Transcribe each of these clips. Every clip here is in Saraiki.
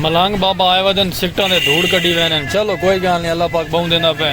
ملنگ بابا آئے ودن سکٹاں دے دھوڑ کڈی وینن چلو کوئی گال نہیں اللہ پاک بہوں دیندا پے۔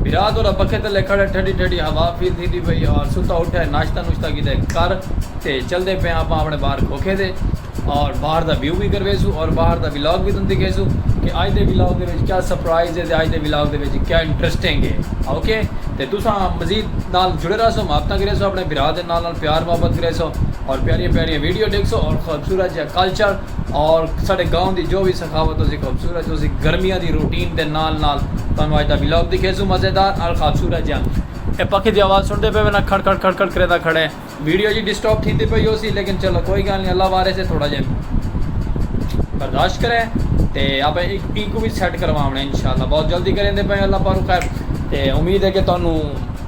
بھرا تورا پکھے تلے کھڑے ٹھڈی ٹھڈی ہوا فیل تھی دی پئی اور ستا اٹھے ناشتہ نوشتہ کیتے کر تے چلدے پے آپاں اپنے باہر کھوکھے دے اور باہر دا ویو وی کرویسوں اور باہر دا ولاگ وی تن دکھیسوں کہ آج دے ولاگ دے وچ کیا سرپرائز ہے تے آج دے ولاگ دے وچ کیا انٹرسٹنگ ہے اوکے تے تساں مزید نال جڑے رہسو محبتاں کریسو اپنے بھرا دے نال نال پیار محبت کریسو اور پیاریاں پیاریاں ویڈیو ڈیکھسو اور خوبصورت جہاں کلچر اور ساڑے گاؤں دی جو وی سخاوت ہوسی خوبصورت ہوسی گرمیاں دی روٹین دے نال نال تانوں آج دا ولاگ دکھیسوں مزیدار اور خوبصورت جیہاں اے پکھے دی آواز سنڑدے پئے وینا کھڑ کھڑ کھڑ کھڑ کریندا کھڑے ویڈیو جی ڈسٹرب تھیندی پئی ہوسی لیکن چلو کوئی گالھ نہیں اللہ وارث ہے تھوڑا جے برداشت کریں تے آپے اینکوں وی سیٹ کرواونے انشاءاللہ بہت جلدی کریندے پئے اللہ پاک خیر تے امید ہے کہ تانوں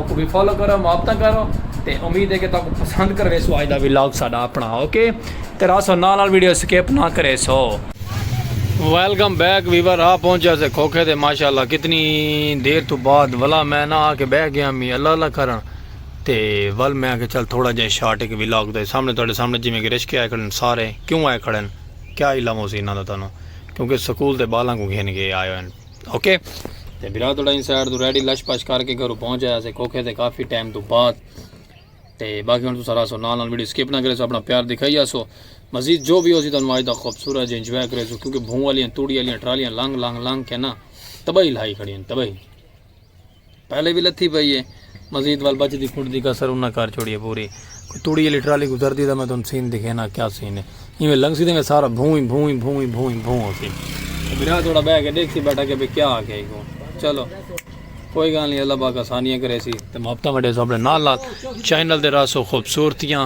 اوکوں وی فالو کرو محبتاں کرو تے امید ہے کہ تاکوں پسند کرویسو اج دا ویلاگ ساڈا اپنا اوکے تے راسو نال نال ویڈیو سکپ نہ کریسو۔ ویلکم بیک ویور آ پہنچیا سے کھوکھے تے ماشاءاللہ کتنی دیر تو بعد ولا میں نہ آ کے بہ گیا می اللہ اللہ کرن تے ول میں کہ چل تھوڑا جے شارٹ ایک ویلاگ تے سامنے تہاڈے سامنے جویں کہ رشکے آئے کھڑے ہیں سارے کیوں آئے کھڑے ہیں کیا علم ہو سی انہاں دا تانوں کیونکہ سکول تے بالاں کوں گھن کے آئے ہوئے ہیں۔ اوکے تے برا تھوڑا ان سائڈ تو ریڈی لش پش کر کے گھروں پہنچ آیا سے کوکھے تے کافی ٹائم تو بعد تے باقی ہن تو سارا سو نال نال ویڈیو سکپ نہ کرے سو اپنا پیار دکھائی آسو مزید جو بھی ہو سی تو انواج دا خوبصورت جے انجوائے کرے سو کیونکہ بھون والیاں توڑی والیاں ٹرالیاں لانگ لانگ لانگ کے نا تباہی لائی کھڑی ہیں تباہی پہلے وی لتھی پئی ہے مزید وال بچ دی کھٹ دی کسر انہاں کر چھوڑی ہے پوری کوئی توڑی علی ٹرالی گزر دی دا میں تن سین دکھینا کیا سین ہے یہ میں لنگ سی دے میں سارا بھوئی بھوئی بھوئی بھوئی بھوئی ہو سی میرا تھوڑا بہ کے دیکھ سی بیٹھا کہ بے کیا آ کے کو چلو کوئی گال نہیں اللہ باقا سانیاں کرے سی تو محبتہ میں دے سو اپنے نال لال چینل دے رہا سو خوبصورتیاں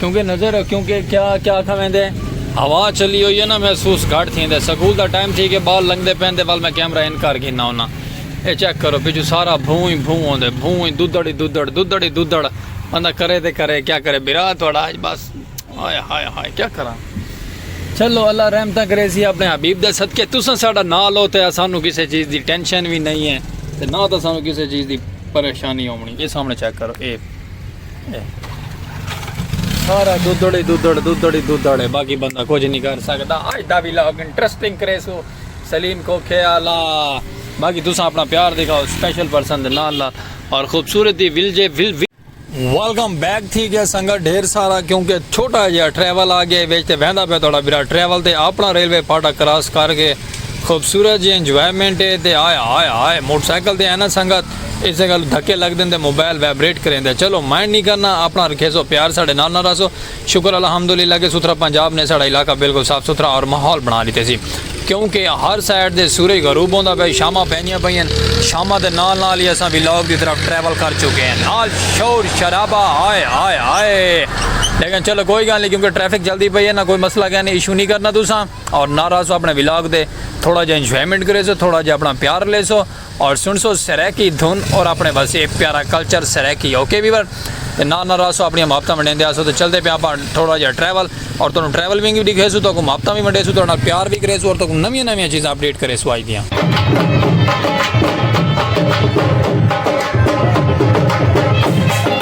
کیونکہ نظر کیونکہ کیا کیا آکھا ویندے ہوا چلی ہوئی ہے نا محسوس گھٹ تھیندے سکول دا ٹائم تھی کے بال لنگدے پین دے ول میں کیمرہ ان کر گھنا ہونا اے چیک کرو پچھو سارا بھوں ہی بھوں ہوندے بھوں ہی دودڑ ہی دودڑ دودڑ ہی دودڑ بندہ کرے تے کرے کیا کرے بھرا تہاڈا اج بس ہائے ہائے ہائے کیا کراں چلو اللہ رحمتاں کریسی اپنے حبیب دے صدقے تساں ساڈا نال ہو تے اسانو کسے چیز دی ٹینشن وی نہیں ہے تے نہ تسانو کسے چیز دی پریشانی ہونی اے سامنے چیک کرو اے سارا دودڑی دودڑ دودڑی دودڑ ہے باقی بندہ کچھ نہیں کر سکتا آج دا بھی لاگ انٹرسٹنگ کرے سو سلیم کو خیالا باقی تسا اپنا پیار دکھاؤ سپیشل پرسن دے نال نال اور خوبصورتی ول جے ول ول ویلکم بیک تھی گیا سنگا ڈھیر سارا کیونکہ چھوٹا جہا ٹریول آ گیا ویچ تے ویندا پہ تھوڑا برا ٹریول تے اپنا ریلوے پاٹا کراس کر کے خوبصورت جی انجوائمنٹ ہے تے آیا آیا آیا موٹر سائیکل تے ہے نا سنگت اسے گالوں دھکے لگدن تے موبائل وائبریٹ کریندے چلو مائنڈ نی کرنا اپنا رکھیسو پیار ساڈے نال نہ رہسو شکر الحمدللہ کہ ستھرا پنجاب نے ساڈا علاقہ بالکل صاف ستھرا اور ماحول بنا ڈتے سی کیوں کہ ہر سائیڈ دے سورج غروب ہوندا پئے شاماں پیندیاں پئین شاماں دے نال نال ہی اساں ویلاگ دی طرف ٹریول کر چکے ہیں نال شور شرابہ ہائے ہائے ہائے لیکن چلو کوئی گال نی کیوں کہ ٹریفک چلدی پئی ہے نہ کوئی مسئلہ کہیں نی ایشو نی کرنا تساں اور نہ رہسو اپنے ویلاگ دے تھوڑا جا انجوائمنٹ کریسو تھوڑا جا اپنا پیار لیسو اور سنسو سرائیکی دھن اور اپنے وسیع پیارا کلچر سرائیکی اوکے ویور تے نال نال راسو اپنی محبتاں ونڈیندے آسو تے چلدے پیا اپاں تھوڑا جہا ٹریول اور تانوں ٹریول ونگ وی ڈکھیسو تو کو محبتاں وی ونڈیسو تہاڈے نال پیار وی کریسو اور تو کو نویاں نویاں چیزاں اپڈیٹ کریسو آج دیاں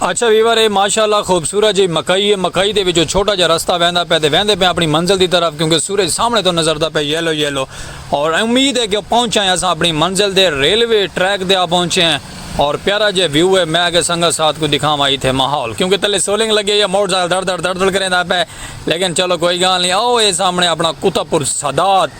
اچھا ویور اے ماشاء اللہ خوبصورت جئی مکئی اے مکئی دے وچوں چھوٹا جیا رستہ ویندا پے تے ویندے پیاں اپنی منزل دی طرف کیونکہ سورج سامنے توں نظردا پے یلو یلو اور امید اے کہ پہنچاں اے اساں اپنی منزل دے ریلوے ٹریک تے آپہنچے ہیں اور پیارا جیا ویو اے میں اگے سنگت ساتھ کوں دکھاواں ایتھے ماحول کیونکہ تلے سولنگ لگی ہوئی اے موٹر سائیکل دڑ دڑ دڑ دڑ کریندا پے لیکن چلو کوئی گال نی او اے سامنے اپنا قطب السادات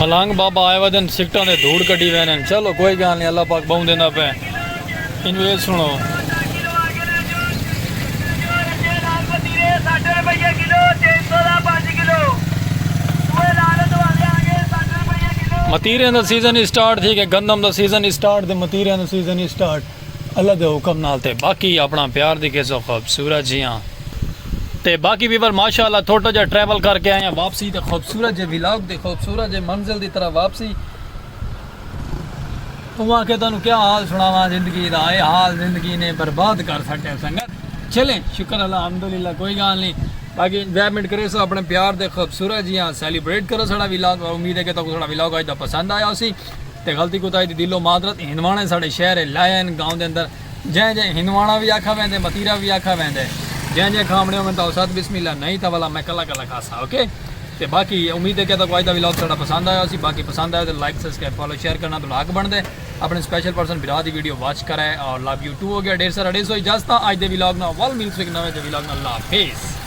ملنگ بابا آئے ودن سکٹاں دے دھوڑ کڈی ویندن چلو کوئی گال نہیں اللہ پاک بہوں دیندا پئے اینوں اے سنڑو۔ متیریاں دا سیزن اسٹارٹ تھی گئے گندم دا سیزن اسٹارٹ تے متیریاں دا سیزن اسٹارٹ اللہ دے حکم نال تے باقی اپنا پیار دی کیسو خوبصورت جیاں تے باقی بھی پر ماشاءاللہ تھوٹا جا ٹریول کر کے آئے ہیں واپسی تے خوبصورت جے ویلاگ تے خوبصورت جے منزل دی طرح واپسی توں آکھے تانوں کیا حال سناواں زندگی دا اے حال زندگی نے برباد کر سٹیا سنگت چلیں شکر الحمدللہ کوئی گال نہیں باقی انجوائمنٹ کرے سو اپنے پیار دے خوبصورت جیاں سیلیبریٹ کرو ساڑا ویلاگ امید ہے کہ تاکو ساڑا ویلاگ آج دا پسند آیا ہو سی تے غلطی کوتا ہے دی دلو معذرت ہنوانے ساڑے شہر لائن گاؤں دے اندر جیں جیں ہندواݨا وی آکھا ویندے متیرا وی آکھا ویندے جیں جیں کھامڑے ہوون تاں استاد بسم اللہ نہیں تاں ولا میں کلا کلا کھاساں اوکے تے باقی امید ہے کہ تاکوں اج دا ولاگ ساڈا پسند آیا ہوسی باقی پسند آیا تے لائک سبسکرائب فالو شیئر کرنا تہاڈا حق بندا ہے اپنے سپیشل پرسن بھرا دی ویڈیو واچ کرے اور لو یو ٹو ہو گیا ڈھیر سارا ڈیسو اجازت اج دے ولاگ نال ول ملسوں اک نویں دے ولاگ نال اللہ حافظ